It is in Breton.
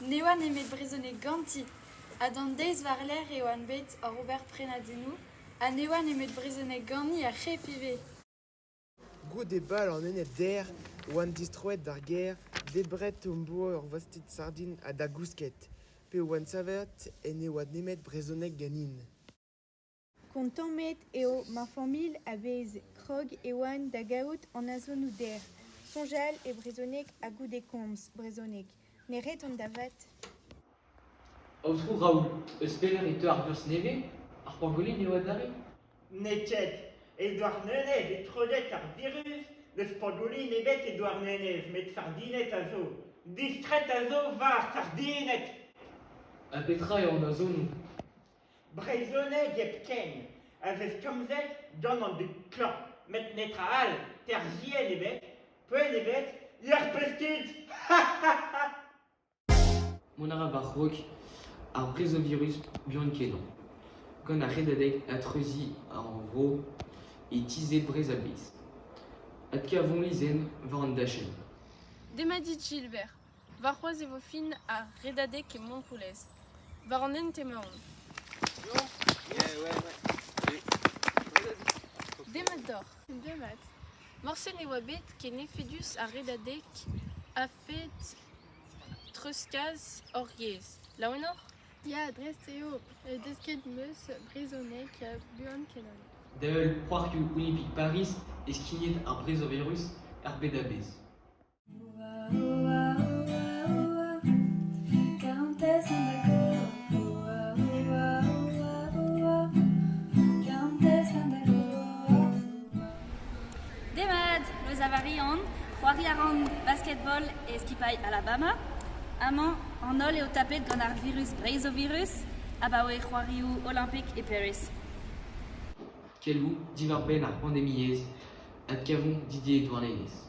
Ne oa nemet brezhoneg ganti ha d'an deiz war-lerc'h eo on bet oc'h ober prenadennoù ha ne oa nemet brezhoneg ganin ar c'hef ivez. Goude bal an Enez-Der e oan distroet d'ar gêr, debret am boa ur vastid sardin ha da gousket, pe e oan savet en ne oa nemet brezhoneg ganin. Kontammet eo ma familh a vez krog Ewan da gaout an azonoù dec'h, soñjal e brezhoneg ha goude komz brezhoneg. Ne ret an da vat. Aotrou Raoul, eus pelec'h e teu ar vioz nevez? Ar pangolin eo adarre? Ne ket. E Douarnenez eo trodet ar viruz, n'eus pangolin ebet e Douarnenez, met sardined a zo. Distret a zo war sardined! Ha petra eo an azonoù? Brezhoneg hepken a vesk komzet gant an dud klañv met netra all, terzhienn ebet, poent ebet, lec'h pesked! Mont a ra war-raok ar brezhovirus buan-kenañ, gant ar redadeg ha treuziñ ar vro e tizh Breizh-a-Bezh. Adkavomp lezenn war an dachenn. Demat dit Gilbert. Warc'hoazh e vo fin ar redadeg e Montroulez, war an hent emaon. Demat deoc'h. Demat. Morse ne oa bet ken efedus ar redadeg a-fed treuzkas hor yezh. Laouenoc'h? Ya, dres eo. Desket 'm eus brezhoneg buan-kenañ. Da-heul c'hoarioù Olimpik Pariz e skignet ar brezoverus er bed a-bezh. Demat, eus Avarian, c'hoari a ran basketball e skipailh Alabama. Amañ, an holl eo tapet gant ar virus Breizovirus abaoe c'hoarioù Olympic e Paris. Adkavomp diwar-benn ar pandemiezh. Adkavomp Didier Douarnenez.